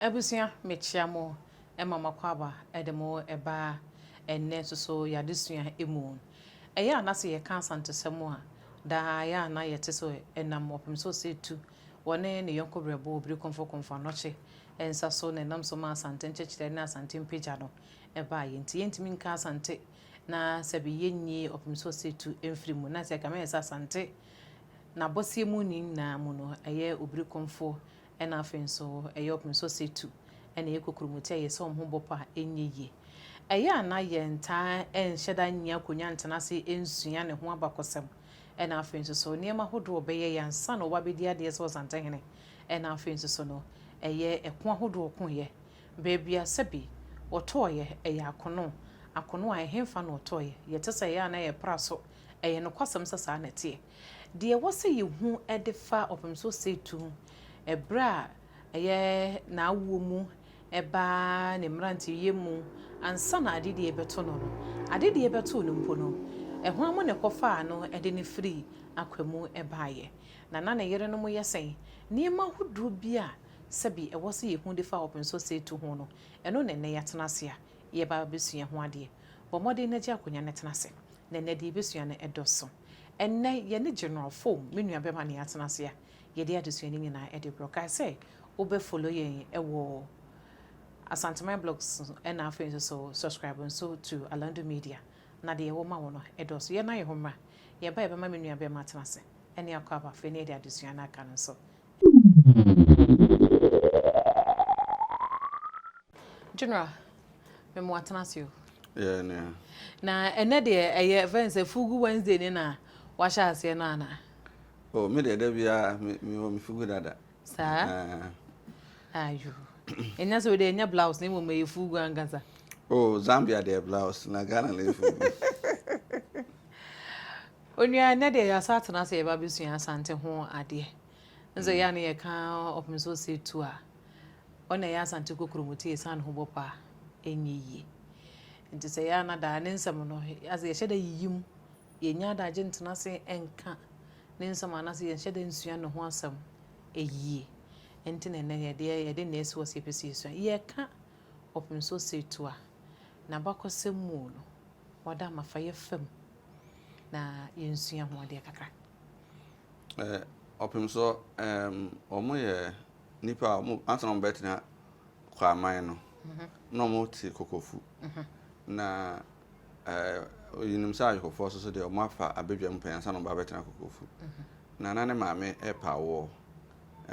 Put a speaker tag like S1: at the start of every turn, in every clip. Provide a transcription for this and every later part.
S1: Abusua mekyea mo ma m'akwaaba de mo ba ɛnnɛ nso so y'adesua mu. Ɛyɛ a na sɛ yɛka Asantesɛm a daa ɛyɛ a na yɛte so ɛnam ɔpem so sɛ tu wɔ ne ne yɔnko brɛbo obiri komfo komfo anɔkye nsa so na ɛnam so ma Asante nkyɛkyerɛ ne Asante mpagya no baeɛ nti yɛntumi nka Asante na sɛbe yɛnyi ɔpem so sɛ tu mfiri mu na sɛ ɛkame yɛ sɛ Asante n'abɔseɛ mu ne nyinaa mu no ɛyɛ obiri komfo Ɛna afei nso ɛyɛ ɔpem so sɛ tu na ɛyɛ kokuromoti a ɛyɛ sɛ wɔn ho bɔ pa nyɛ yie. Ɛyɛ a na yɛntaa nhyɛ da nnya akonnwa ntena ase nsua ne ho abakɔsɛm. Ɛna afei nso so nneɛma ahodoɔ a ɔbɛyɛeɛ ansa na ɔba bɛdi adeɛ sɛ Ɔsantehene. Ɛna afei nso so no ɛyɛ ɛko ahodoɔ a ɔkoeɛ. Baabi a sɛbi ɔtɔeɛ ɛyɛ akono. Akono a ɛhefa na ɔtɔeɛ? Yɛte sɛ ɛyɛ a na yɛpra so. Ɛyɛ nokwasɛm sɛ saa na ɛteɛ. Deɛ ɛwɔ sɛ yɛhu de fa Ɔpemso Setu berɛ a ɛyɛ n'awoɔ mu ba ne mmeranteyɛ mu ansa na adedie rebɛto no no, adedie rebɛto no mpo no, hwan mu na ɛkɔfaa no de no firii Akwa mu baeɛ, na na ne yerenom yɛ sɛn? Nneɛma ahodoɔ bi a sɛbe ɛwɔ sɛ yɛhu de fa Ɔpemso Setu ho no, ɛno na ɛnnɛ yɛatena ase a yɛreba abɛsua ho adeɛ. Bɔ mmɔden na gye akonnwa na tena ase. na ɛnnɛ deɛ yɛbɛsua no ɛdɔso. Ɛnnɛ yɛne General Foom, me nua bɛma na yɛatena ase a yɛde adesua no nyinaa ɛde brɛ wo. Kae sɛ wobɛ follow yɛn ɛwɔ Asanteman Blogs so ɛna afei nso so subscribe nso to Alandu Media na deɛ yɛwɔ ma wo no ɛdɔso. Yɛn nan yɛ hɔ mmra, yɛba a yɛbɛma me nua bɛma atena ase ɛne Akwaaba afei na yɛde adesua no aka no nso General, me mo atena ase o. Yeah, yeah.
S2: Na ɛnɛ
S1: deɛ ɛyɛ fɛn sɛ fugu Wednesday ne na wahyɛ aseɛ no ana? O oh, me deɛ
S2: da biara me wɔ me fugu dada. Saa?
S1: Ah. Ayo. Ɛnya sɛ wode ɛnyɛ blouse na mmom ɛyɛ fugu ankasa. O oh, Zambia
S2: deɛ blouse na Ghana na ɛyɛ fugu.
S1: Onua, nnɛ deɛ yɛasan atena ase yɛba abɛsua Asante ho adeɛ. N sɛ yɛ a ne yɛka ɔpem so ɔsɛ tu a, ɔna ɛyɛ Asante kokuromoti a ɛsiane ho bɔ paa ɛnyɛ yie. Nti sɛ yɛ a na daa ne nsɛm no asɛ yɛhyɛ da yiyi mu, yɛnya adagye ntena ase nka ne nsɛm anaasɛ yɛnhyɛ da nsua ne ho asɛm yie. Nti na nnɛ yɛdeɛ yɛde nnɛ asi hɔ sɛ yɛpɛ sɛ yɛsua. Yɛka ɔpem so ɔsɛ tu a, n'abakɔsɛm mu no, Wɔda ama fa yɛ fam na yɛnsua ho adeɛ kakra. Eh,
S2: ɔpem so um, wɔn yɛ nipa a wɔn ansa na wɔn bɛtena kwaman no mhm. na wɔn te kokofu mhm. na eh, yinim sɛ ayɔkofoɔ so so deɛ wɔn afa abadwam pɛn ansa na wɔn ba bɛtena kokofu mhm. na na ne maame ɛpa awoɔ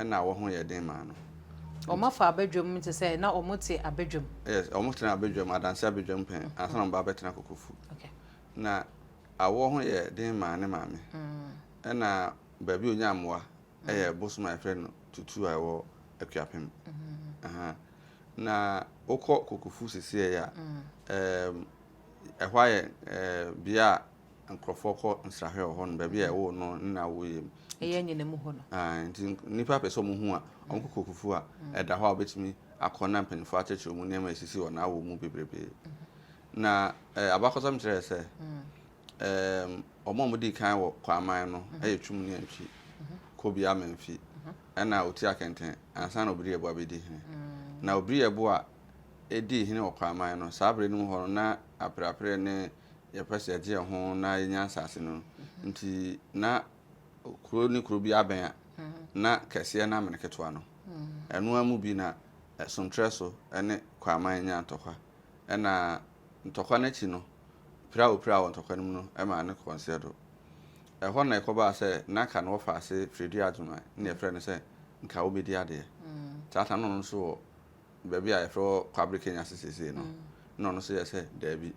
S2: na wɔn ho yɛɛ den maa no. Wɔafa
S1: abadwam mu te sɛ na wɔte abadwam. Yes, wɔtenaa
S2: abadwam, adanse abadwam pɛn ansa na wɔba abɛtena Kokofu. Na awoɔ ho yɛɛ den maa ne maame. Ɛna baabi a ɔnyaa mmoa yɛ bosom a yɛfrɛ no Tutu a ɛwɔ Akuapem. Na wokɔ Kokofu seesei a, ɛhɔ ayɛ bea a nkorɔfoɔ kɔ nsrahwɛ wɔ hɔ nom, baabi a ɛwoo no ne nea woyɛ mu. Ɛyɛ anyina mu hɔ no.
S1: Ae, nti nnipa
S2: pɛ sɛ wɔn hu a, wɔn kɔ Kokufu a ɛda hɔ a wɔbɛtumi akɔ na mpaninfoɔ akyerɛkyerɛ wɔn nneɛma a ɛsisi wɔ n'awɔ mu bebrebe. Na eh, abakɔsɛm kyerɛɛ sɛ, ɛɛm, wɔn a wɔdii kan wɔ Kwaman no yɛ Twum ne Antwi, Kobi Amanfi, ɛna Oti Akɛntɛn ansa na Obiri Yeboah bɛdi hene. Na Obiri Yeboah dii hene wɔ Kwaman no, saa berɛ no mu hɔ no na Apereapereɛ ne yɛpɛ sɛ yɛgye yɛn ho na yɛnya nsase no nti na kuro ne kuro bi abɛn a na kɛseɛ na amene ketewa no ɛnoa mu bi na ɛsomtrɛ so ne kwaman nya ntɔkwa ɛna ntɔkwa no akyi no pira wɔ pira wɔ ntɔkwa no mu no ɛma ne kɔnseɛ do ɛhɔ na ɛkɔbaa sɛ na ka no wɔfa ase firidua adwuma ne yɛfrɛ no sɛ nka wobɛdi adeɛ tata no no nso wɔ baabi a yɛfrɛ hɔ Kwabere Kenya ase seesei no, na ɔno nso yɛɛ sɛ daabi,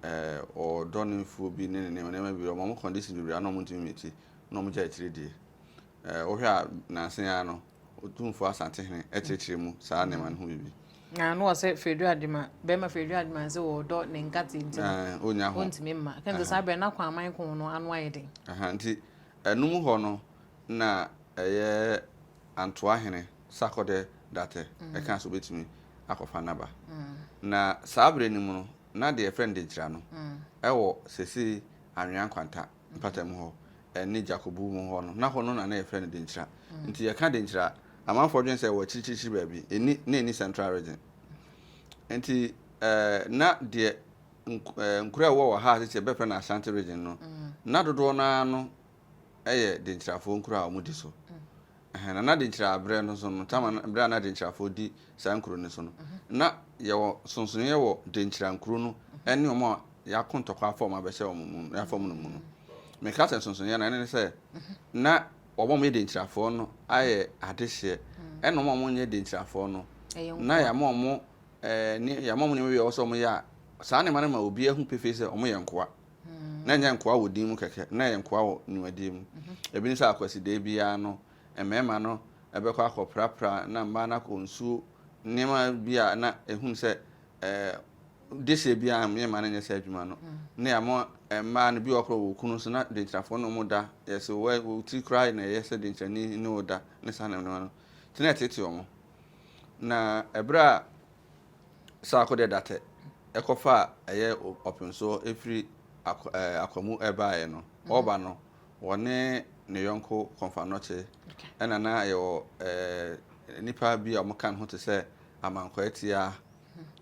S2: eh, ɔdɔ ne mfuo bi ne ne nneɛma nneɛma bi, wɔn condition bebree a na wɔn ntumi miti, na wɔn gya akyire die. Eh, wohwɛ a nansen ara no, Otumfoɔ Asante Hene akyerɛkyerɛ mu saa nneɛma no ho biribi. Na ano ɔsɛ
S1: Fredro Adema, bɛrima Fredro Adema nso wɔ ɔdɔ ne nkate nti no, onya ho. Ontumi
S2: mma. Kɛn sɛ saa bɛrɛ
S1: na kwan aman ko no ano ayɛ den. Aha, nti
S2: ɛnum hɔ no na ɛyɛ Antoa hene Sarkodɛ Datɛ kaa sɛ obetumi akɔfa n'aba. Na saa bere no mu no, na deɛ yɛfrɛ no Denkyira no wɔ seesei Anwea Nkwanta mpatamu hɔ ne Dwakobu mu hɔ no, na hɔ no na na yɛfrɛ no Denkyira. Nti yɛka Denkyira a, amanfoɔ dwene sɛ ɛwɔ akyirikyirikyiri baabi, ɛnni, na ɛnni Central Region. Nti na deɛ nkuro a ɛwɔ wɔ ha a seesei yɛbɛfrɛ no Ashanti Region no, na dodoɔ no ara no yɛ denkyirafoɔ nkuro a wɔdi so. Ɛhɛn, na na denkyira aberɛ no so no, tam a na, berɛ a na denkyirafoɔ di saa nkuro no so no, na yɛwɔ sonsonoeɛ wɔ denkyira nkuro no ne wɔn a yɛako ntɔkwa afa wɔn abɛhyɛ wɔn mu, afa wɔn no mu no. Meka sɛ nsonsonoeɛ no a, ɛne ne sɛ, na wɔn a wɔyɛ denkyirafoɔ no ayɛ adehyeɛ, ɛna wɔn a wɔnyɛ denkyirafoɔ no, na yɛama wɔn, ɛɛ, ne, yɛama wɔn nneɛma bi a ɛwɔ sɛ wɔyɛ a, saa nneɛma no ma obiara hu pefee sɛ wɔyɛ nkoa. na ɛnyɛ nkoa wɔ din mu kɛkɛ, na ɛyɛ nkoa wɔ nnwumadie mu. Ebi ne sɛ Akwasideɛ biara no, mmarima no bɛkɔ akɔprapra na mmaa no akɔ nsuo, nneɛma bi a na ɛhunu sɛ dehyeɛ biara yɛ mmaa no nyɛ saa adwuma no. Na yɛamɔ mmaa no bi wɔ korɔ wɔ okunu so na denkyirafoɔ ne wɔn da, yɛse wo ti koraa na ɛyɛ sɛ denkyirani ne wo da ne saa nneɛma no. Nti na ɛtete wɔn. Na ɛberɛ a Saako de datɛ kɔfa a ɛyɛ ɔpensoɔ firi Akwa mu baeɛ no, ɔreba no, ɔne ne yɔnko Kɔmfannɔkye ɛna na yɛwɔ nnipa bi a wɔka ne ho te sɛ Amankwaatia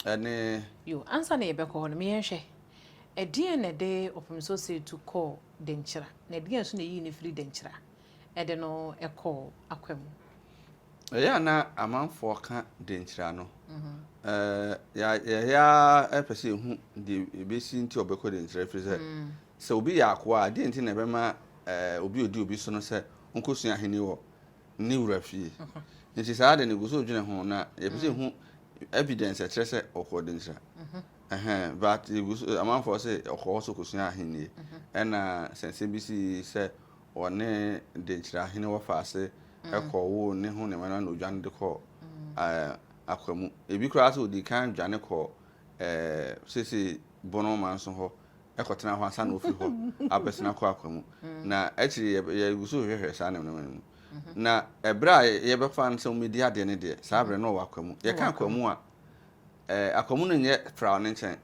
S2: ɛne. Yo, ansa na
S1: yɛbɛkɔ hɔ no, ma yɛnhwɛ, ɛdeɛn na ɛde Ɔpemsoɔ Seetu kɔɔ Denkyira, na ɛdeɛn nso na ɛyii no firii Denkyira? de no kɔ akwa mu. Ɛyɛ
S2: a na amanfoɔ ka denkyira no. Yɛyɛ ara pɛ sɛ yɛhu deɛ ɛbɛsi nti a ɔbɛkɔ denkyira ɛfiri sɛ, sɛ obi yɛ akoa a, deɛn nti na ɛbɛma obi a ɔdi obi so no sɛ ɔnkɔsua ahennie wɔ ne wura fie? Nti saa ade no yɛgu so dwene ho na yɛpɛ sɛ yɛhu evidence a ɛkyerɛ sɛ ɔkɔɔ denkyira. But yɛgu so, amanfoɔ se ɔkɔ hɔ sɛ ɔkɔsua ahennie. Ɛna sɛ nsɛm bi sii sɛ wɔne denkyira ahene wɔ faase mm. kɔ wo ne ho ne mɛna na odwane de kɔ mm. akwa mu ebi koraa sɛ odi kan dwane kɔ sese bono man so hɔ ɛkɔtena hɔ ansa na ofi hɔ abɛsena kɔ akwa mu mm. na akyiri yɛgu so hwehwɛ saa ne mɛna mu mm-hmm. na ɛberɛ a yɛbɛfa no sɛ wɔmɛdi adeɛ ne deɛ saa berɛ no ɔwɔ akwa mu yɛka akwa mu a akwa mu no nyɛ fra ne nkyɛn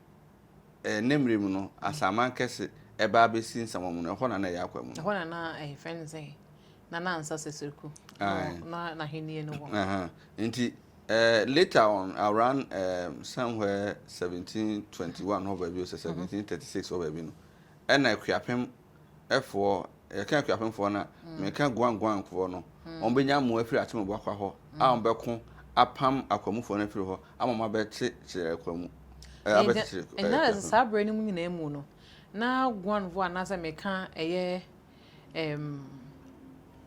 S2: Ɛnnɛ mmerɛ mu no, Asaman kɛse ɛbaa bɛsi nsamamo no, ɛhɔ na na ɛyɛ akwan mu no. Ɛhɔ na na yɛfrɛ
S1: no sɛn? Na na nsa sɛsɛku na n'ahennie
S2: no wɔ. Nti later on around somewhere 1721 hɔ baabi o sɛ 1736 hɔ baabi no, ɛna Akuapem Apuefoɔ, yɛka Akuapemfoɔ no a, meka Guanguanfoɔ no, wɔbɛnya mmoa afiri Atemubuakwa hɔ a wɔbɛko apam Akwamufoɔ no afiri hɔ ama wɔn abɛte kyerɛ Akwamu, ɛɛ abɛte kyerɛ
S1: Akuapem. Ɛnna sɛ saa berɛ no mu nyinaa mu no, na Guanfoɔ anaasɛ meka ɛyɛ ɛɛm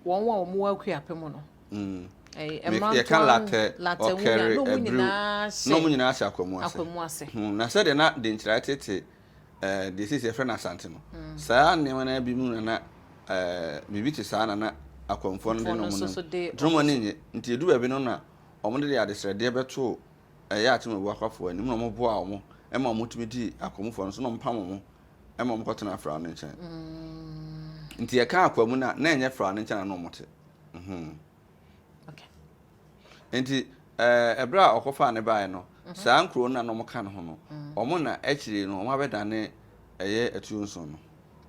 S1: wɔn a wɔn wɔ Akuapem no, ɛɛ mmrantoa,
S2: yɛka Latɛ, Ɔkɛre, Abriw, na wɔn nyinaa hyɛ Akwamu ase. Na sɛdeɛ na Denkyira tete deɛ seesei yɛfrɛ no Asante no, saa nneɛma no ara bi mu na na biribi te saa na na akwanfoɔ no de no mu no dwom ani nye nti edu baabi no na wɔn de adesrɛdeɛ bɛto ɛyɛ atemabu akwafoɔ anim na wɔn boa wɔn ɛma wɔn tumi di akwamufoɔ no so na wɔn pam wɔn ɛma wɔn kɔtena afra no nkyɛn nti ɛka akwa mu na na ɛnyɛ fra no nkyɛn na na wɔn te. Enti ɛberɛ a ɔkɔfaa no baeɛ no, saa nkuro no na na wɔka ne ho no, wɔn na akyire no wɔabɛdane ɛyɛ atuo nson no.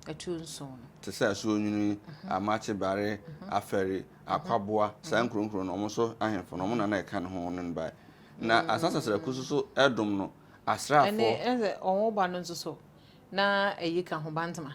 S2: Atuo nson no. Te sɛ Asuonwini, Amakye, Bare, Afɛre, Akwaboa, saa nkuro nkuro no, wɔn so ahemfo no, wɔn na na ɛka ne ho, wɔn ne no baeɛ. Na Asan Sasraku nso so ɛdom no, asraafoɔ. Ɛne ɛsɛ wɔn
S1: ba no nso so, na ɛyi ka ho, Bantama.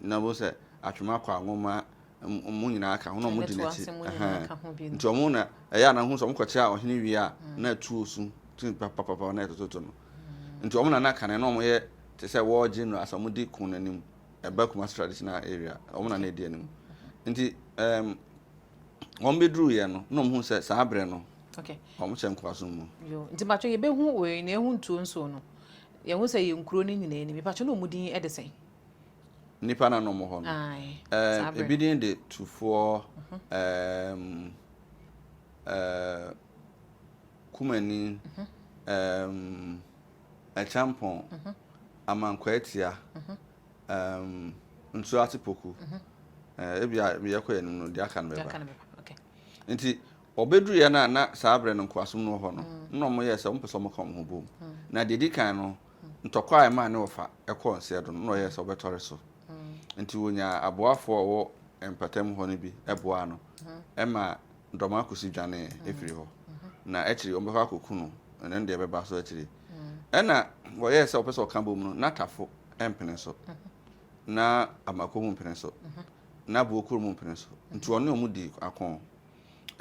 S2: Na wɔn sɛ atwema kɔ anwoma wɔn nyinaa ka ho na wɔn di n'akyi nti wɔn na ɛyɛ anan ho sɛ wɔn kɔkyerɛ ɔhene wie a mm. na atuo su ti papapapa na ɛtototo no mm. nti wɔn na na kane na wɔn yɛ te sɛ wɔn general asɛ wɔn di kun n'anim ɛba kuma traditional area wɔn na na edi anim mm-hmm. nti ɛɛm wɔn bɛ duru yɛ no na wɔn ho sɛ saa abirɛ no wɔn hyɛ nkoaso mu. yoo nti mpatso yɛ bɛ
S1: hu wei na ehu ntuo nsuo no yɛn ho sɛ yɛn nkuro ne nyinaa anim mpatso na wɔn din ɛde sɛn. Nnipa
S2: na na wɔwɔ hɔ no. Ae, eh, saa bere ebi no. din de Tufoɔ ɛɛm, eh, Kumani, ɛɛm, Ɛkyɛmpɔn, Amankwaatia, ɛɛm, Nsuo Ase Poku. Eh, ebia meyɛ kɔ anim no, deɛ aka no Deɛ bɛba. aka no bɛba. Okay.
S1: Nti
S2: wɔbɛduruiɛ no a na saa berɛ no nkoasom no wɔ hɔ no, na wɔyɛɛ sɛ wɔmpɛ sɛ wɔka wɔn ho bom. Na deɛ ɛdi kan no, ntɔkwa a ɛmaa ne wɔfa kɔɔ nseɛ do no, nna ɔyɛɛ sɛ ɔbɛtɔre so. Ntsi wonyaa aboafo a wɔwɔ mpatamu hɔ no bi boaa no ma Dɔmakusi dwanee fir hɔ, na ekyir yi wɔbɔkɔ akoku no, na no deɛ bɛba so ekyir yi. Nna wɔyɛɛ sɛ wɔpɛ sɛ wɔka bɔ mu no, na tafo mmpene so, na amako mu mmpene so, na buokur mu mmpene so, ntsi ɔnye hɔn dii akõ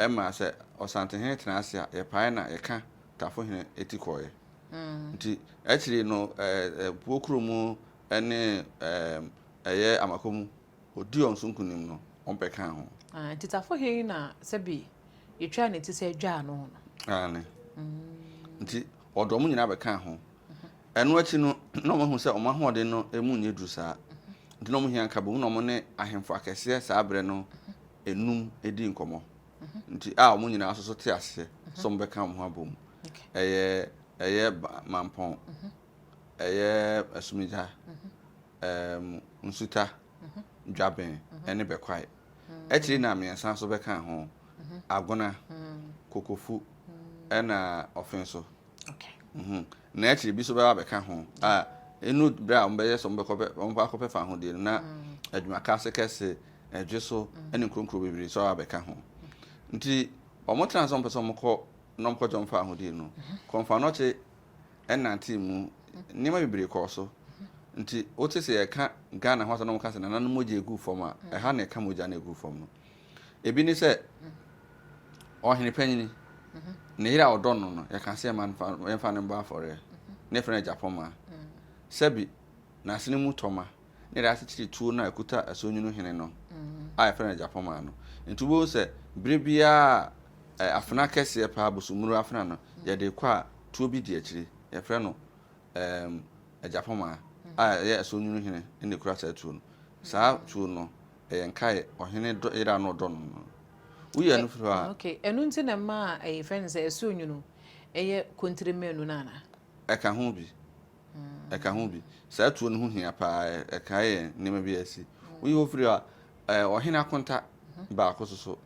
S2: ma sɛ Ɔsantehene tsena ase a, yɛpae na yɛkã Tafohene eti kɔɔe. Nti akyiri no Puo kuro mu ne ɛyɛ Amako mu ɔdii wɔn so nkunim no wɔbɛkaa ho. Nti Tafo he
S1: na sɛbe yɛtwaa ne ti sɛ dwaa no no? Aane.
S2: Nti wɔde wɔn nyinaa bɛkaa ho. Ɛno akyi no na wɔahu sɛ wɔn ahoɔden no mu nyɛ duru saa. Nti na wɔhia nkabom na wɔne ahemfo akɛseɛ saa berɛ no nnum dii nkɔmmɔ. nti a wɔn nyinaa nso so te aseɛ sɛ wɔn bɛka wɔn ho abɔ mu. Ɛyɛ ɛyɛ Mampɔn, ɛyɛ Asumigya, ɛɛm Nsuta, Dwaben ɛne Bɛkwae. Akyiri na mmiɛnsa nso bɛka ho, Agona, Kokofu ɛna Ɔfenso.
S1: Na akyiri bi nso
S2: bɛba abɛka ho a, ɛnu berɛ a wɔbɛyɛ sɛ wɔbɛkɔ akɔpɛ fahodie no, na adwumakaase kɛse, ɛdwe so, ne nkuronkuro bebree nso aba abɛka ho. Nti wɔtenaa sɛ wɔpɛ sɛ wɔkɔ na wɔkɔ gyɔn fahodie no. Kɔmfoanɔkye nantee mu, nneɛma bebree kɔɔ so. Nti wote sɛ yɛka Ghana ho asɛm na wɔka sɛ nananom mogya gu fam a, ɛha na ɛka mogya na ɛgu fam no. Ebi ne sɛ, ɔhene panyin, ne yere a ɔdɔ no no, yɛka sɛ yɛmma no mfa yɛmfa no mmɔ afɔreɛ. Ne yɛfrɛ no agyapɔma. Sɛbi, n'asene mu tɔma na yɛde akyekyere tuo no a ɛkuta ɛsonwunu hene no a yɛfrɛ no agyapɔma no. Nti wobɛhu sɛ berɛ biara a afena kɛseɛ paa, bosommuro afena no, yɛde rekɔ a, tuo bi di akyire. Yɛfrɛ no ɛɛm agyapɔma a ɛyɛ ɛsonwunu hene na ɛkura saa tuo no. Saa tuo no, Ɛyɛ nkae ɔhene dɔ yere a na ɔdɔ no no. Woyi ɛno firi hɔ a. Okay, ɛno nti na ɛma
S1: yɛfrɛ no sɛ ɛso nwunu yɛ kontire mmienu no anaa? Ɛka ho bi.
S2: Ɛka ho bi. Saa tuo no ho hia paa, ɛkae yɛn nneɛma bi a asi. Woyi hɔ firi hɔ a, ɛɛ ɔhene akonta baako nso so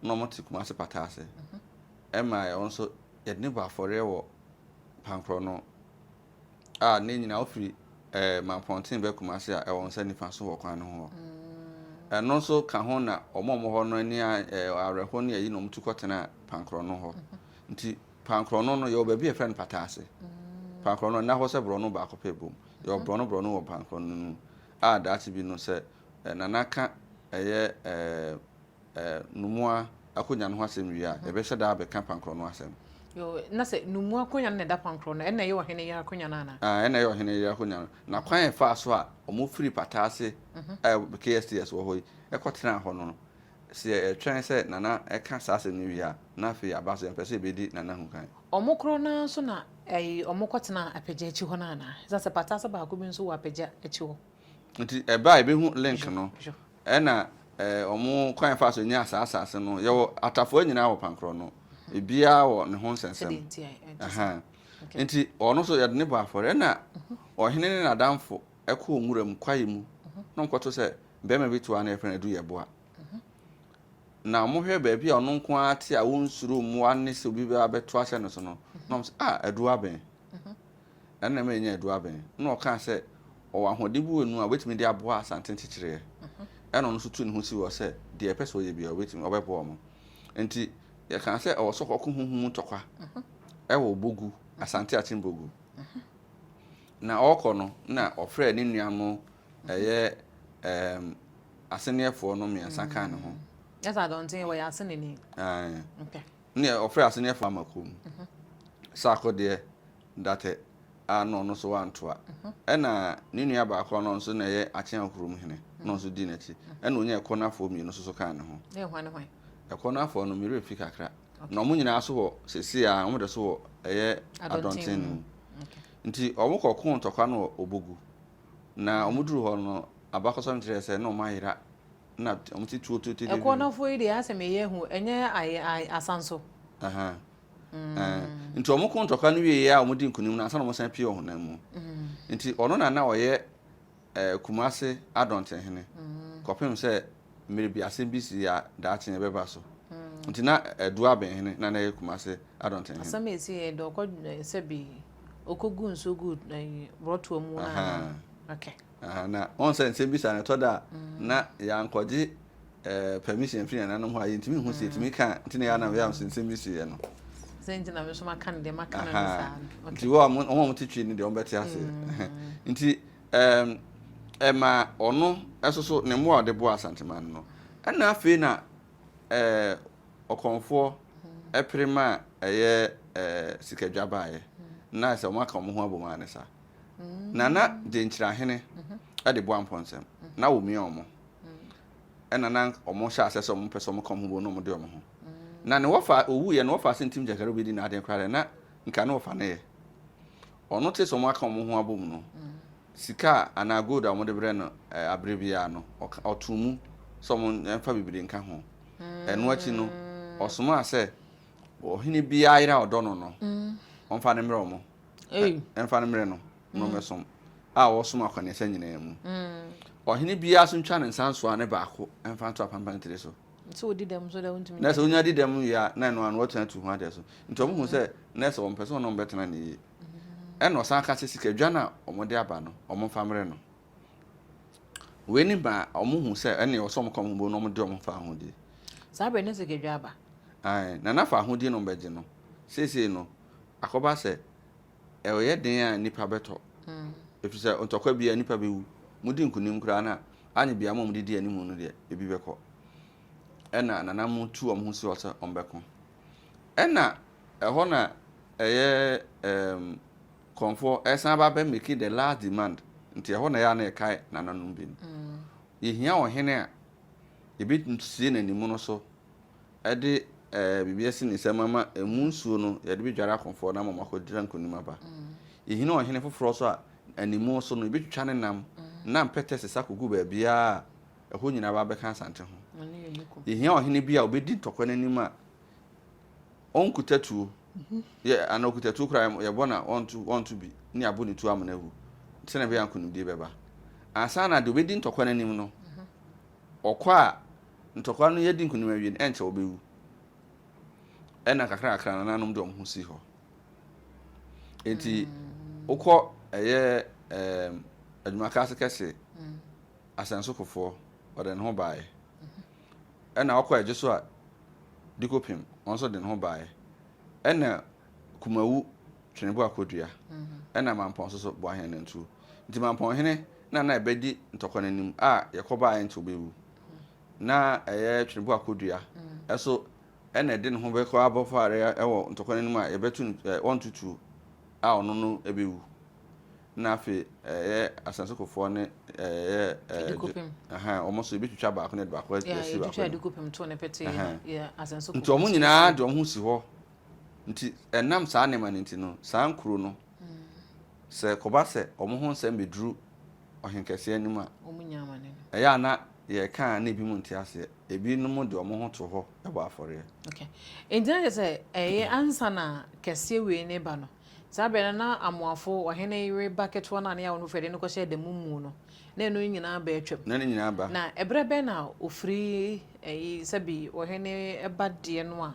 S2: na wɔte Kumasi pata ase. Ɛma ɛno nso yɛde no bɔ afɔreɛ wɔ Pankorɔ no. a ne nyinaa wofiri eh, Mampɔnten bɛ Kumasi a ɛwɔ nsa nifa so wɔ kwan no ho hɔ. Ɛno nso ka ho na wɔn a wɔwɔ hɔ no ani awerɛho ne ayi na wɔtu kɔtena Pankorɔno hɔ. Nti Pankorɔno no yɛwɔ baabi a yɛfrɛ no Pataase. Pankorɔno ɛna hɔ sɛ borɔno baako pɛ bom. Yɛwɔ borɔno borɔno wɔ Pankorɔno no mu a daakye bi no sɛ Nana ka ɛyɛ eh, Numua akonwa no ho asɛm wie a, yɛbɛhyɛ da abɛka Pankrɔ no asɛm. Yoo, na sɛ
S1: Numua akonwa no na ɛda Pankrɔ no, ɛnna ɛyɛ Ɔhene Yere akonwa no anaa? Aane, ɛnna ɛyɛ Ɔhene Yere akonwa
S2: no, na kwan a ɛfaa so a wɔfiri Pata Ase a ɛwɔ KSTS wɔ hɔ yi kɔtenaa hɔ no, sɛ yɛtwɛn sɛ Nana ka saa asɛm no wie a, na afei yɛaba so, yɛmpɛ sɛ yɛbɛdi Nana ho kan. Wɔn korɔ no ara nso
S1: na wɔkɔtenaa Apagya akyi hɔ no anaa? Ɛsiane sɛ Pata Ase baako bi nso wɔ Apagya akyi hɔ. Nti ɛberɛ a
S2: yɛbɛhu link no, ɛna wɔn kwan yɛfa so nya saa asase no, yɛwɔ atafoɔ nyinaa wɔ pankorɔ no, ebiara wɔ ne ho nsɛnsɛm. Nti ɔno nso yɛde ne bɔ afɔre, ɛna ɔhene ne n'adamfo ɛkɔɔ nwura mu kwaeɛ mu, na wɔkɔto sɛ bɛrima bi to a na yɛfrɛ no Adu Yɛboa. Na wɔhwɛ baabi a ɔno nko ara te a wɔnsuro mmoa ne sɛ obi bɛba bɛto ahyɛ no so no, na wɔn sɛ ah Adu abɛn. na nna meenya adu abɛn. Nna ɔkaa sɛ ɔwɔ ahoɔden bi wɔ ne mu a obetumi de aboa Asante nkyekyereɛ. Ɛna ɔno nso tuu ne ho sii hɔ sɛ deɛ ɛpɛ sɛ ɔyɛ biara obetumi, ɔbɛboa wɔn. Nti yɛkaa sɛ ɔwɔ sɛ ɔkɔko honhom mu ntɔkwa wɔ Bogu, Asante Akyem Bogu. Na ɔrekɔ no, na ɔfrɛɛ ne nua no ɛyɛ ɛɛm aseneɛfoɔ no mmiɛnsa kaa ne ho. Ɛsɛ adɔnten
S1: wɔyɛ aseneni. Ae. Okay. Neɛ ɔfrɛ
S2: aseneɛfoɔ ama kurom saako deɛ Datɛ ano ɔno nso wantoa ɛna ne nua baako ɔno nso na ɛyɛ Akyea kurom hene na ɔno nso dii n'akyi ɛna ɔnya ɛkɔ no afoɔ mmienu nso kaa ne ho
S1: ɛkɔ no afoɔ no
S2: mmerɛ fi kakra na wɔn nyinaa so wɔ sɛsi a wɔn de so wɔ ɛyɛ adɔnten no mu nti wɔn kɔ ko ntɔkwa no wɔ obogu na wɔn duru hɔ no abakɔsɛm kyerɛ sɛ na wɔn ayera na wɔn ti tuo tuo tuo. Ɛkɔ nɔfoɔ yi deɛ asɛ
S1: mɛ yɛ hu ɛnyɛ ayɛ ayɛ asan so. Ɛhɛn.
S2: Mm. Ɛɛ nti wɔn ko ntɔkwa no wie yɛ a wɔn di nkunim na asan wɔn san pie ɔhonam mu. Mm. Nti ɔno na na ɔyɛ ɛɛ kumase adɔntenhene. Mm. Kɔpem sɛ mmiri bi asɛm bi si a daakye yɛ bɛba so. Mm. Nti na ɛdu abɛnhene na na yɛ kumase adɔntenhene. Asɛm esi yɛ dɛ ɔkɔ
S1: sɛ bi ɔkɔ gu nsuo gu ɛɛ brɔtoa mu na. Ɛhɛn. Okay. Ahaa na wɔn
S2: sɛ nsɛmbisa no ɛtɔ da a na yankɔgye ɛɛ permission firi nananom hɔ a yɛntumi nhu sɛ yɛtumi ka a nti na ɛyɛ a na meyɛ sɛ nsɛm bi si yɛ no. Sɛ nti na me nso
S1: maka no deɛ maka no no saa no. Nti wɔ a wɔn
S2: a wɔte twi no deɛ wɔn bɛte ase. Nti ɛɛm ɛma ɔno ɛso so ne mmoa a ɔde boa Asanteman no no ɛna afei na ɛɛ ɔkɔmfoɔ ɛpere ma ɛyɛ ɛɛ sikadwa baayɛ na ayɛ sɛ wɔn aka wɔn ho abom ara ne saa. Nana Gyenkyerahene de boa mpɔnsɛm na wɔmia wɔn. Ɛna na wɔn hyɛ asɛ sɛ wɔn pɛ sɛ wɔn ka wɔn ho bom na wɔn de wɔn ho. Na ne wɔfa owu yɛ ne wɔfa sɛ ntim gyakari obi di n'adeɛ koraa dɛ na nka ne wɔfa no yɛ. Ɔno te sɛ wɔn aka wɔn ho abom no sika a anaa gold a wɔn de brɛ no abere biara no ɔka ɔtoo mu sɛ wɔn nfa bebree nka ho. Ɛno akyi no ɔsomaa sɛ ɔhene biara yere a ɔdɔ no no wɔn fa no mmrɛ wɔn. ɛmfa no mmerɛ no mmɛsom a wɔsom akɔneasa nyinaa mu ɔhene biara so ntwa ne nsa nsoa ne baako ɛmfa nto apampan tiri so
S1: na sɛ wonya di dɛm yɛ
S2: a na ɛno ano wɔtena tu ho adeɛ so nti wɔn ho sɛ na sɛ wɔn pɛ sɛ wɔn bɛtena ne yie ɛna ɔsan ka sɛ sika dwa no a wɔn de aba no wɔn mfa mmerɛ no wei ne ba wɔn ho sɛ ɛne wɔsɛ wɔn kɔn ho bo na wɔn de wɔn fa ahodie saa bɛ ne sika
S1: dwa aba nana fa
S2: ahodie no bɛgye no seesei no Akɔba sɛ, ɛreyɛ den a nnipa bɛtɔ, efisɛ ntɔkwa bi a nnipa bewu. Mudi nkonim koraa no a, anyɛ biara mo a mudidi anim no deɛ, ebi bɛkɔ. Ɛnna nananom tu wɔn ho si hɔ sɛ wɔbɛko. Ɛnna ɛhɔ na ɛyɛ ɛɛm kɔmfoɔ resan aba abɛ make the last demand, nti ɛhɔ na ɛyɛ a na yɛkae nananom bi no. Yɛhia ɔhene a yɛbɛsie n'animono so. de ɛɛ biribi asi ne nsam ama emu nsuo no yɛde bɛdware akofoɔ no ama wɔn akɔdira nkonim aba. Yɛhini ɔhene foforɔ nso a, animu so no yɛbɛtwitwa ne nam na mpɛtɛ sesa kɔgu baabiara a ɛhɔ nyinaa aba abɛka Asante ho. Yɛhia ɔhene bi a ɔbɛdi ntɔkwa no anim a ɔnkuta tuo yɛ anaa ɔkuta tuo koraa yɛbɔ na ɔnto ɔnto bi ne abɔ ne tuo amena ahu sɛnea ɛbɛyɛ nkonimdie bɛba. Ansa na deɛ ɔbɛdi ntɔkwa no anim no ɔkɔ a Ntɔkwa no yɛadi nkonim awie no, ɛnkyɛ wɔbɛwu. Ɛnna nkakrankakra no nananom de wɔn ho sii hɔ. Enti wokɔ ɛyɛ ɛɛm adwumaka ase kɛse, asɛnsokofoɔ, ɔde ne ho baeɛ. Ɛnna wokɔ ɛgye so a, Dikopem, ɔno nso de ne ho baeɛ. Ɛnna Kumawu, Tweneboa Kodua, ɛnna Mampɔn nso so, Boaheanantuo. Nti Mampɔnhene na na ɛbɛdi ntɔkwa no anim a yɛkɔbaeɛ ɛnkyɛ wɔbɛwu. na ɛyɛ twenebo akodua ɛso ɛna ɛde ne ho bɛkɔ abɔfo areɛ ɛwɔ ntɔkwa n'anim a yɛbɛto no ɛɛ wɔntutuo a ɔno no ɛbɛwu na afei ɛyɛ asasekofoɔ ne ɛyɛ ɛɛ wɔn so yɛbɛtwitwa baako na ɛde baako ɛsi baako
S1: nti wɔn nyinaa de
S2: wɔn ho si hɔ nti ɛnam saa nneɛma no nti no saa nkuro no. Sɛ ɛkɔba sɛ wɔn ho nsɛm beduru ɔhenkɛseɛ anim a, ɛyɛ
S1: a na yɛka
S2: a na ebinom nte aseɛ. Ebinom de wɔn ho to hɔ bɔ afɔreɛ. Okay. Enti
S1: na kyerɛ sɛ ɛyɛ ansa na kɛseɛ wei no reba no, saa berɛ no na amoafo ɔhene yere ba ketewa no a ne yɛ a wɔn fɛ de no kɔhyɛ da mu mu no, na ɛno nyinaa ba atwam. Na ne nyinaa ba. Na
S2: ɛberɛ bɛn na
S1: ɔfiri ɛyi sɛbi ɔhene ba deɛ no a,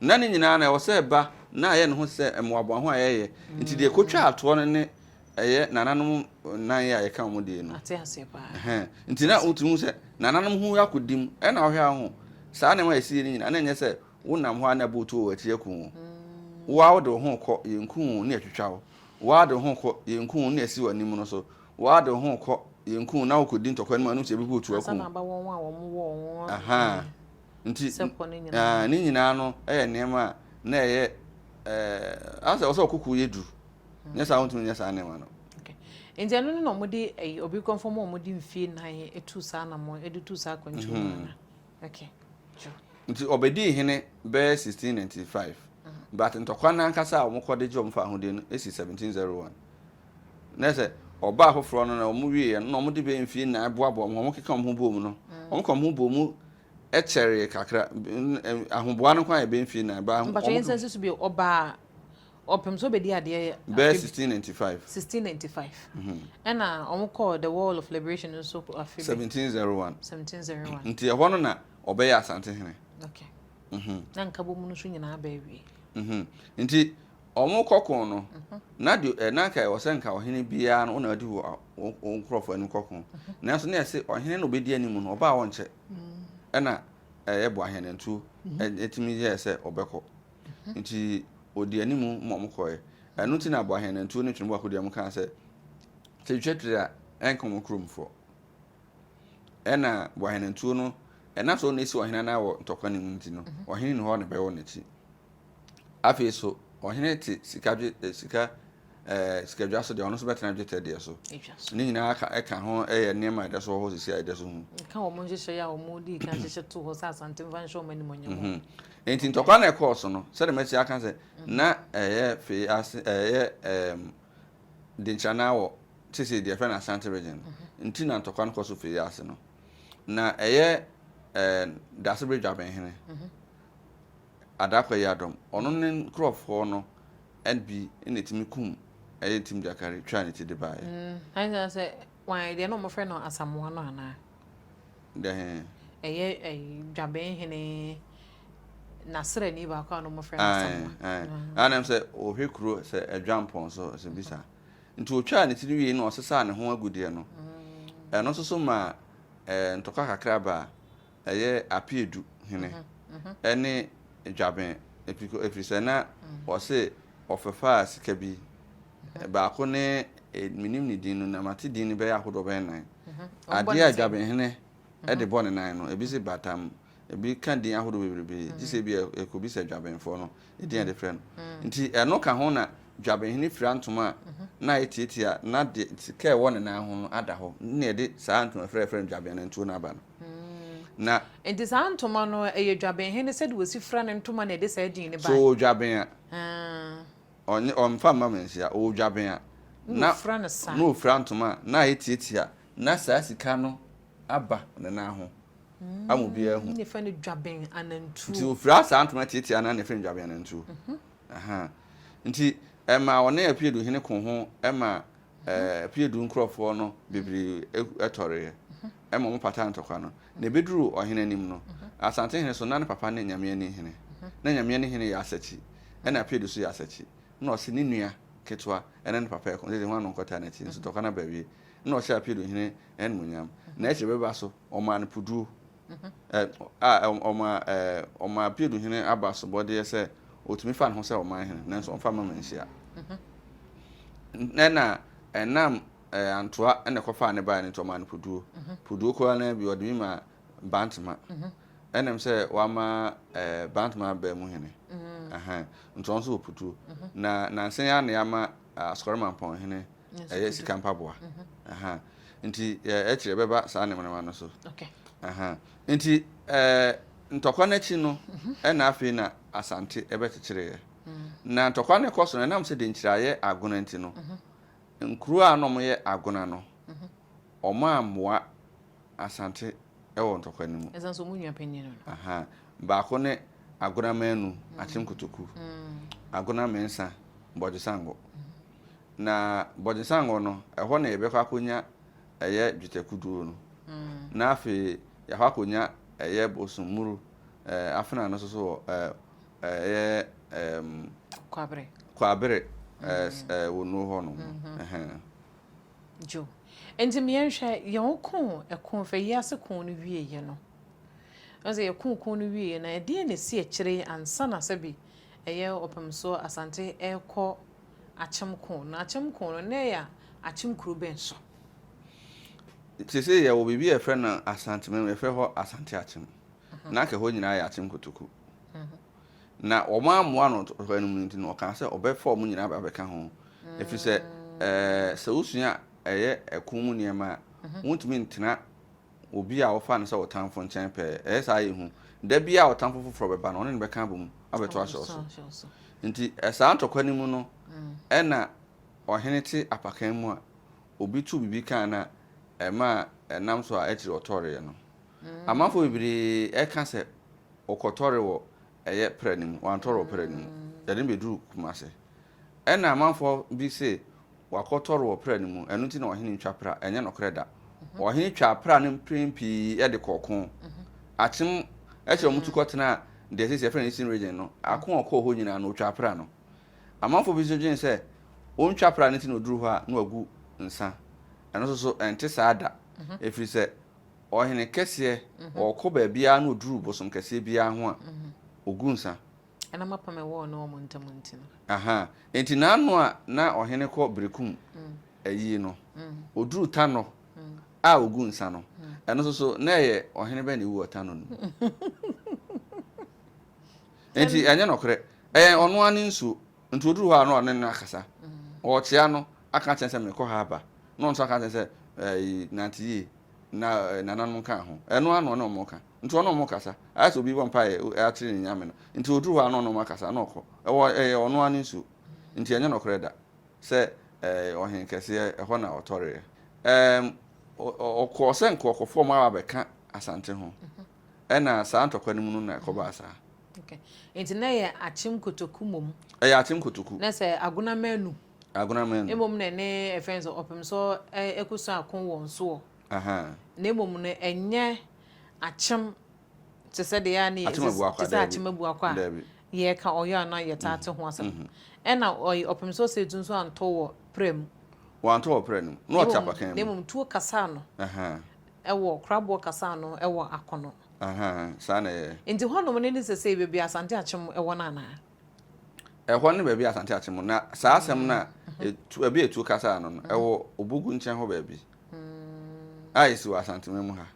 S1: Ná ne
S2: nyinaa no, ɛwɔ sɛ ɛba na ayɛ ne ho sɛ mmoaboa ho a ɛyɛ. Enti deɛ ɛkɔtwaa toɔ no ne ɛyɛ nananom nan yɛ a yɛka wɔn deɛ no. Ate aseɛ paa. Ɛhɛn.
S1: Enti na wotumi
S2: hu sɛ nananom ho akɔdi mu. Ɛnna wohwɛ ara hu saa nneɛma a yɛsi yɛ no nyinaa, na ɛnyɛ sɛ wonam hɔ ara na ɛbɔ wo tuo wɔ akyiri aku wo. Wo ara wode wo ho rekɔ, yɛnku wo na yɛatwitwa wo. Wo ara de wo ho rekɔ, yɛnku wo na yɛasi w'anim no so. Wo ara de wo ho rekɔ, yɛnku wo na wokɔdi ntɔkwa no mu a, ɛno nso yɛbɛbɔ wo tuo aku wo. Ansa na aba wɔn a wɔwɔ
S1: wɔn. Ahaa.
S2: Nti, ah, ne nyinaa no yɛ nneɛma a na ɛyɛ eh, asɛ ɔsɛ ɔkoko yɛ duru nyɛ saa wontumi nyɛ saa nneɛma no nti
S1: ɛno no na wɔde eh, obi kɔmfɔ mu a wɔde mfie nan tu saa anamɔ de tu saa akwantu mu mhm. okay nti ɔbɛdii
S2: hene bɛyɛ 1695 mhm. but ntɔkwa no ankasa a wɔkɔde gye wɔn fa ahodeɛ no ɛsi 1701 Na sɛ ɔbaa foforɔ no na wɔn wieɛ no na wɔn de bɛyɛ mfie nnan boaboa wɔn ho keka wɔn ho boom no wɔn ka wɔn ho boom kyɛree kakra ahoboa no kwan yɛ bɛyɛ mfie nnan baa mpatwa yɛn nsa susu bi
S1: ɔbaa ɔpem so bɛdi adeɛ bɛyɛ 1695 1695
S2: mhm. ɛna
S1: wɔn kɔɔ the wall of liberation nso afe 1701 1701
S2: nti
S1: ɛhɔ no na
S2: ɔbɛyɛ asante hene okay
S1: mhm. na nkabɔ mu no nso nyinaa bɛɛ wie mhm. nti
S2: Wɔkɔ ko no, na deɛ na anka ɛwɔ sɛ nka ɔhene biara no na ɔdi wɔn nkurɔfoɔ anim kɔ ko. Nanso na ɛsɛ ɔhene na ɔbɛdi anim no, ɔbaa wɔnkyɛ. Ɛna ɛyɛ boahenantuo ɛtumi yɛɛ sɛ ɔbɛkɔ. Nti ɔdi anim ma wɔn kɔɛ. Ɛno nti na boahenantuo ne twene boako deɛ wɔn kaa sɛ sɛ twitwa tiri a ɛnka wɔn kurom foɔ. Ɛna boahenantuo no ɛna sɛ ɔna ɛsi ɔhene anaa wɔ ntɔkwa ne mu nti no ɔhene ni hɔ na ɛbɛwɔ n'akyi. Afei nso, ɔhene te sika dwe eh, sika eh, sikadwa so deɛ ɔno nso bɛtena dwetɛ deɛ so ne nyinaa ka ɛka ho ɛyɛ eh, nneɛma a ɛda so wɔ hɔ sisi a ɛda so hu ɛka wɔn nhyehyɛ a
S1: wɔn di kan hyehyɛ to hɔ sɛ asante nfa nhyɛ wɔn anim ɔnyɛ wɔn mhm. nti ntɔkwa na
S2: ɛkɔɔ so no sɛdeɛ mɛsi aka sɛ mhm. na ɛyɛ fei ase ɛyɛ ɛɛm denkyana wɔ sisi deɛ fɛn asante region mhm. nti na ntɔkwa no kɔ so fei ase no na ɛyɛ ɛɛ dasebe dwabɛnhene adaka yi adɔm. Ɔno ne nkurɔfoɔ no bi na ɛtumi kum ɛyɛ ntim gyakari twaa ne ti de baeɛ. Ayɛ sɛ sɛ
S1: wɔn deɛ na wɔn frɛ no asamoa no anaa. Deɛ he.
S2: Ɛyɛ ɛyi
S1: dwabɛn hene n'asrɛni baako a na wɔn frɛ no asamoa. Ayi ayi anam sɛ
S2: ɔhwɛ kuro sɛ adwampɔn so sɛ bisa nti ɔtwaa ne ti no wie na ɔsesaa ne ho agudeɛ no ɛno nso so maa ɛɛ ntɔkwa kakra baa. ɛyɛ Apeadu hene ne Dwaben Apiko ɛfiri sɛ na wɔse wɔfɛfaa sika bi, baako ne menim ne din no na mate din no bɛyɛ ahodoɔ bɛyɛ nnan, adeɛ a Dwaben hene de bɔ ne nan no, ebi se batam, ebi ka din ahodoɔ bebrebe gye sɛ ebia ɛkɔbisa Dwabenfoɔ no din a yɛde frɛ no. Nti ɛno ka ho na Dwaben hene fira ntoma a na ayɛ tiatia na deɛ sika a ɛwɔ ne nan ho no ada hɔ na ɛde saa ntoma fira a yɛfrɛ no Dwaben nantuo no aba no. Na. Enti saa
S1: ntoma no, ɛyɛ dwabenhene sɛdeɛ wɔsi fira ne ntoma na ɛde saa din no baeɛ. Sɛ ɔwɔ dwaben a. Haa.
S2: Ɔnyɛ, ɔmfa mma me nhyia. Ɔwɔ dwaben a. Na ɔfira no saa. Na ɔfira
S1: ntoma a, na
S2: ayɛ tiatia. Na saa sika no aba ne nan ho ama obiara ahu. Na yɛfrɛ no dwaben
S1: anantuo. Nti ɔfira saa ntoma
S2: tiatia no ara na yɛfrɛ no dwaben anantuo. Ahaa. Nti ɛmaa ɔne Apiaduhene koo ho maa Ɛpeɛ du nkurɔfoɔ no bebree tɔreeɛ ma wɔpataa ntɔkwa no, na ɛbɛduruu ɔhene anim no, asantehene so, na ne papa ne Nyameani hene. Na Nyameani hene yɛ asakyi, ɛnna Apeadu nso yɛ asakyi. Ɛnna ɔse ne nua ketewa ne ne papa reko sɛ hwan na ɔnkɔtaa n'akyi, nso ntɔkwa no aba awie. Ɛnna ɔhyɛɛ Apeadu hene animuonyam, na akyire bɛba so ɔmaa no puduo. a ɔmaa ɔmaa Pilu hene aba asobɔdeɛ sɛ ɔtumi fa ne ho sɛ ɔman hene nanso ɔmfa mma manhyia. Ɛna ɛnam antoa ɛna ɛkɔfaa ne baeɛ no nti ɔmaa no puduo. Puduo koraa no bi ɔde bi maa Bantama. Ɛnam sɛ wama Bantama abaa mu hene. Nti ɔno nso wɔ puduo. Na nansa yi ara na yɛama Asukɔrɔmampɔn hene ɛyɛ sika mpaboa aha nti ɛkyerɛ bɛba saa nneɛma no so aha
S1: nti
S2: ɛɛ ntɔkwa n'akyi no mhm. ɛna afei na asante ɛbɛkyekyereɛ mm. na ntɔkwa no kɔ so no ɛnam sɛ de nkyiraeɛ agona nti no mhm. nkuro a na wɔyɛ agona no mhm. wɔn a mmoa asante ɛwɔ ntɔkwa no mu ɛsan so wɔn nua panyin no
S1: aha baako ne
S2: agona manu mm. akyem kotoku mm. agona mmiɛnsa bɔdwesango. Na bɔdzesanngɔ no, hɔ na yɛbɛkɔ akonya yɛ dwetɛ kuduo no, na afei yɛakɔ akonya yɛ bosoom muru afena no so so wɔ yɛ Kwabere Wonuo hɔ nom no.
S1: Joe, Enti me yɛnhwɛ, yɛn koo ɛko fɛ yi ase koo no wie yɛ no, ɔn sɛ yɛ koo koo no wie yɛ no, ɛdeɛn na ɛsi akyire ansana sɛbi yɛ Ɔpemsoɔ Asante ɛrekɔ akyem koo no. Akyem koo no, na ɛyɛ akyem kuro bɛn so? Seesei
S2: yɛwɔ biribi a yɛfrɛ no Asantemem mu, yɛfrɛ hɔ Asante Akyem. Na anka ɛhɔ nyinaa yɛ Akyem Kotoku. Na wɔammoa no ɔtɔkwayi no mu no nti no, ɔkaa sɛ ɔbɛfa wɔn nyinaa aba abɛka ho. Ɛfiri sɛ, sɛ wosua ɛyɛ ɛko mu nneɛma a, wontumi ntena obi a wɔfa no sɛ wo tamfo nkyɛn pɛɛ. Ɛyɛ saa a, ɛyɛ hu. Da biara a ɔtamfo foforɔ bɛba no, ɔne no bɛka abom abɛto ahyɛ wo so. Nti saa ntɔkwa no mu no, ɛna ɔhene te apakan mu a, obi too biribi kaa no a, ɛmaa ɛnam so a akyiri ɔtɔreeɛ no. Amanfoɔ bebree ka sɛ ɔkɔtɔre wɔ ɛyɛ prɛ no mu, wantɔrɔ prɛ no mu, yɛde no bɛduruu Kumase. Ɛnna amanfoɔ bi se wakɔtɔre wɔ prɛ no mu, ɛno nti na ɔhene ntwa pra. Ɛnyɛ nokorɛ da. Ɔhene twaa pra no mprɛn pii de kɔɔ ko. Akyem akyiri a wɔtu kɔtenaa deɛ seesei yɛfrɛ no Eastern Region no, ako a ɔkɔɔ hɔ nyinaa no, ɔtwaa pra no. Amanfoɔ bi nso dwene sɛ ɔntwa pra no nti na ɔduru hɔ a na wagu nsa. Ɛno nso so, ɛnte saa da, ɛfiri sɛ Ɔhene kɛseɛ, ɔɔkɔ baabiara na ɔduru bosom kɛseɛ biara ho a, ɔgu nsa. Ɛna m'apam a ɛwɔ
S1: ɔne wɔn ntam nti no. Ahaa, enti n'ano
S2: a na ɔhene kɔ berekum ayie no, ɔduru Tanɔ a ɔgu nsa no, ɛno nso so, na ɛyɛ ɔhene bɛn na ɛwu wɔ Tanɔ no mu? Enti ɛnyɛ nɔkorɛ, ɛyɛ ɔno ara ne nsuo, nti ɔduru hɔ a na ɔne no akasa, ɔɔkyea no, aka akyerɛ no sɛ merekɔ ha aba, na ɔno nso aka akyerɛ no sɛ, ɛɛyi, nante yie, na nananom kaa ho. Ɛno ara na ɔne wɔn ka. Nti ɔne wɔn kasa. Ayɛ sɛ obi bɔ mpaeɛ akyere ne Nyame no. Nti oduru hɔ a na ɔne wɔn akasa na ɔkɔ. Ɛwɔ ɛyɛ ɔno ara ne nsuo. Nti ɛnyɛ nɔkorɛ da sɛ ɛɛ ɔhen kɛseɛ ɛhɔ na ɔtɔreɛ. Ɛɛm ɔ ɔkɔɔ sɛ nka ɔkɔ fɔm aba abɛka Asante ho. Ɛna saa ntɔkwa no mu no na ɛkɔbaa saa. Okay. Nti na
S1: ɛyɛ Akyem Kotoku mmom. Ɛyɛ Akyem Kotoku.
S2: Na sɛ Agona Manu.
S1: Mmom no, ne ɛfɛ no sɛ ɔpem sɔ ɛko sɔ ako wɔ nsoɔ, na mmom no ɛnyɛ akyem te sɛ deɛ a ne yɛ te sɛ akyem abu akɔ a yɛ ka ɔyɔ anaa yɛ taa te ho asɛm. Ɛna ɔyi ɔpem sɔ sɛ etu nso antɔ wɔ prɛ mu. Wantɔ wɔ prɛ
S2: no mu, na ɔte apakan mu. Na mmom tuo kasa
S1: ano ɛwɔ koraboɔ kasa ano ɛwɔ akono. Saa na
S2: ɛyɛ. Nti hɔnom no ne sɛsɛi
S1: baabi a Asante akyem ɛwɔ no anaa? Ɛhɔ
S2: ne baabi a Asante Akyem wɔ. Na saa asɛm no a etu ɛbi a etuo kasaa no no, ɛwɔ Obugu nkyɛn hɔ baabi a esi wɔ Asanteman mu ha.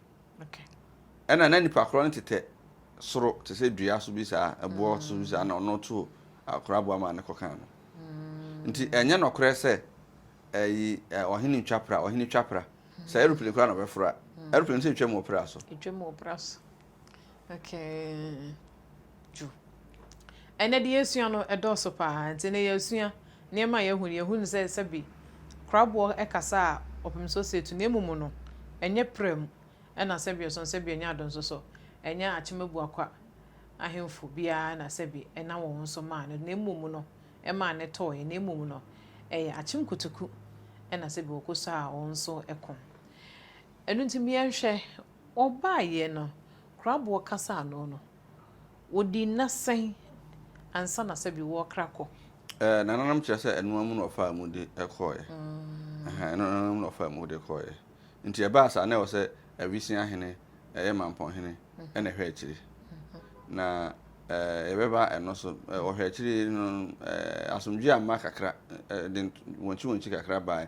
S2: Ɛna na nipa korɔ no tetɛ soro te sɛ dua so bi saa, ɛboɔ so bi saa na ɔno to akora aboa maa no kɔkaa no. Nti ɛnyɛ nɔkorɛ sɛ ɛyi ɔhene twa pra, ɔhene twa pra. Sɛ aeroplane koraa na ɔbɛforo a, aeroplane sɛ etwa mu wɔ pra so. Okay,
S1: dwo. Ɛnɛ deɛ yɛsua no ɛdɔɔso paa nti na yɛasua nneɛma a yɛahu no yɛhu no sɛ sɛbi kraboɔ ɛkasa a ɔpem so sɛ tu na emu mu no ɛnyɛ prɛ mu ɛna sɛbi ɔsɔn sɛbi ɛnyɛ adɔn so sɔ ɛnyɛ akyemabuakwa ahemfo biara na sɛbi ɛna wɔn so maa no na emu mu no ɛmaa ne tɔɔ yɛ na emu mu no ɛyɛ akyemkutuku ɛna sɛbi wɔkɔ so a wɔn so ɛko ɛno nti miɛnhwɛ Ɔbaeɛ no, Kraboɔ kasa ano no, ɔdii nna sɛn ansa na sɛbi wɔrekra kɔ? Ɛɛ, nananom kyerɛ
S2: sɛ ɛnoa mu na ɔfaa mu de kɔeɛ. Ɛhɛn, ɛnoa mu na ɔfaa mu de kɔeɛ. Nti ɛbaa saa, na ɛwɔ sɛ Awisia hene, ɛyɛ Mampɔn hene, ɛna ɛhwɛ akyire. Na ɛɛ, yɛbɛba ɛno so. Wɔhwɛ akyire no, ɛɛ, asomdwoeɛ amma kakra, ɛɛ, de wɔnkyiwɔnkyi kakra baeɛ.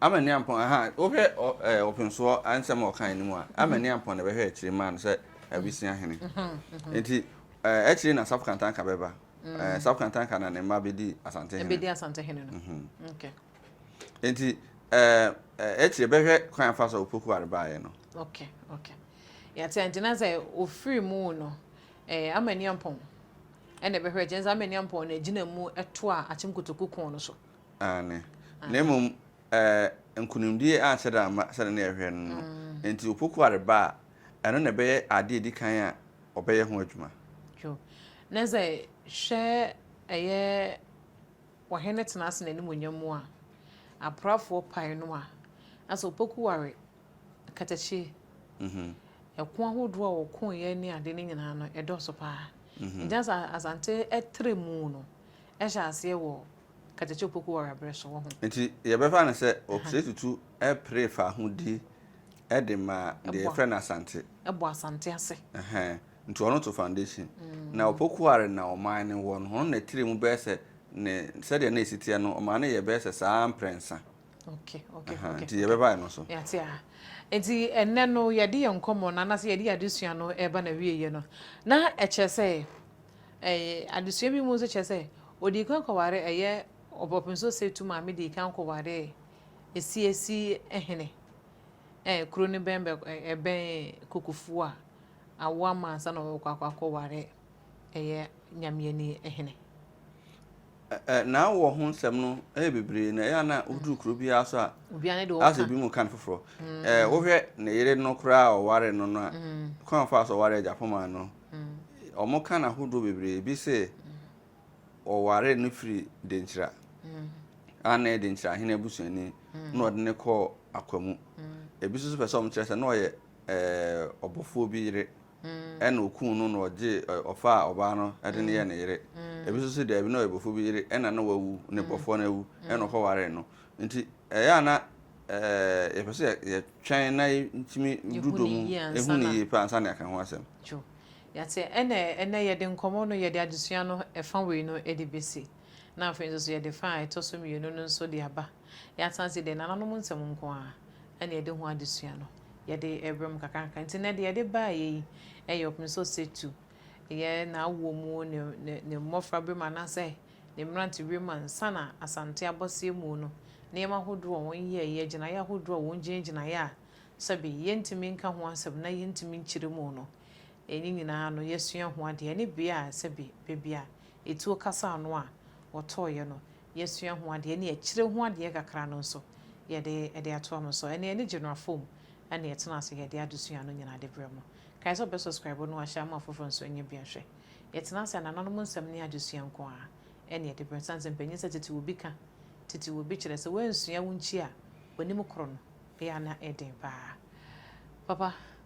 S1: Ama Niampɔn, aha, wohwɛ ɛɛ Ɔpensoɔ nsɛm a ɔkae no mu a, ama mhm. Niampɔn na ɛbɛhwɛ akyire maa no sɛ abusua hene. Mhm, mhm. Nti ɛɛ akyire na Asafo Kantanka bɛba. Mm. Ɛɛ Asafo Kantanka na ne mma bɛdi Asante hene. Ɛbɛdi Asante hene no. Okay. Nti
S2: ɛɛ akyire bɛhwɛ kwan afa so a Opoku Ware baeɛ no. Okay,
S1: okay. Yɛte nti na sɛ ofiri mu no ɛɛ ama Niampɔn Ɛna ɛbɛhwɛ kyɛ nsa mɛni ampɔn na ɛgyina mu ɛto a akyem kotoku kɔn no so. Aane.
S2: Na mmom ɛɛ nkunimdie anhyɛ da amma sɛdeɛ na yɛhwɛ no no. Enti opoku a reba a, ɛno na ɛbɛyɛ adeɛ a ɛdi kan a wɔbɛyɛ ho adwuma. Yo.
S1: Na sɛ hwɛ ɛyɛ Ɔhene tena ase n'animuonyam mu a, aprafoɔ pae no a, na sɛ opoku ware Katakyie, ɛko ahodoɔ a wɔkoeɛ ne adeɛ no nyinaa no, ɛdɔɔso pa ara. Nti na sɛ Asante tra mu no, ɛhyɛ aseɛ wɔ Katakyie Opoku Warra berɛ so, woahu. Nti yɛbɛfa no sɛ
S2: Ɔsrɛ Tutu pere faahodi de ma deɛ yɛfrɛ no Asante. Ɛbɔ Asante
S1: ase. Ɛhɛn, nti ɔno
S2: to foundation. Na Opoku Warra na ɔman no wɔ no, ɔno na ɛtra mu bɛyɛ sɛ ne, sɛdeɛ na ɛsi teɛ no, ɔman no yɛɛ bɛyɛ sɛ saa ara mprɛnsa. Okay,
S1: okay, okay. Nti yɛ bɛba
S2: ɛno so. Yɛ ate a.
S1: Nti ɛnɛ no yɛ de yɛ nkɔmɔ na anase yɛ de yɛ adesua no ɛba na wie yɛ no. Na ɛkyɛ sɛ ɛyɛ adesua bi mu nso kyɛ sɛ odi kan kɔware ɛyɛ ɔbɔpinso sɛ tu maame di kan kɔware esi esi ɛhene. Eh, kuro ne bɛn bɛ ɛbɛn kokofuo a awo ama ansa na ɔkɔ akɔ akɔware ɛyɛ nyamiani ɛhene.
S2: Ɛ ɛ na wɔ ho nsɛm no yɛ bebree na ɛyɛ a na woduru kuro biara nso a Obiara ne deɛ ɔka. asɛ bi mu
S1: ka no foforɔ
S2: ɛ wohwɛ ne yere no koraa a ɔware no no a kwan a ɔfaa so ɔware agyapomaa no wɔn ka no ahodoɔ bebree ebi se ɔware no firi denkyira a na ɛyɛ denkyira ahene abusuani na ɔde no kɔɔ akwa mu ebi nso so pɛ sɛ wɔn kyerɛ sɛ na ɔyɛ ɛɛ ɔbɔfoɔ bi yere ɛna okuu no na ɔgyee ɛ, ɔfaa ɔbaa no de no yɛɛ ne yere. Ebi nso se daabi, na ɔyɛ bɔfo bi yere, ɛna na wawu, ne bɔfoɔ no awu, ɛna ɔkɔwaree no. Nti, ɛyɛ a na ɛɛ yɛpɛ sɛ yɛtwɛn na yɛtumi du dɔ mu, ehu no yie pɛ ansa na yɛaka ho asɛm. Dwo. Yɛate.
S1: Ɛna ɛnɛ yɛde nkɔmmɔ no, yɛde adesua no ɛfa wei no de besi, na afei nso so yɛde fa a ɛtɔ so mmienu no nso de aba. Yɛasan asi dɛ nananom nsɛm nko ara na yɛde ho adesua no, yɛde rebam kakrankakra. Ntsi ndɛ dza yɛde baayɛ yi yɛ ɔpem sɛ ɔsatu yɛ n'awɔ mu, ne ne ne mbofraber mu anaasɛ ne mberantsɛber mu ansa na Asante abɔsea mu no, nneɛma ahorow a hɔn yɛeɛ, gyinaeɛ ahorow a hɔn gyinagyinaeɛ a sɛbe yɛntumi nka ho asɛm na yɛntumi nkyerɛ mu no, ne nyinaa no yɛasua ho adeɛ, ne bea a sɛbe beebi a etuo kasaa ano a wɔtɔeɛ no, yɛasua ho adeɛ ne akyire ho adeɛ kakra no nso yɛde ɛde atoa mo so ɛne ɛne general foam ɛne ɛtena ase yɛde adesua no nyinaa de brɛ mo kae sɛ wobɛ subscribe no wahyɛ ama afoforɔ nso nyɛ bia hwɛ yɛtena ase a nananom nsɛm ne adesua nko ara ɛne ɛde brɛ sane sɛ mpanyin sɛ tete obi ka tete obi kyerɛ sɛ wansua wo nkyi a wanim koro no ɛyɛ na ɛden paa papa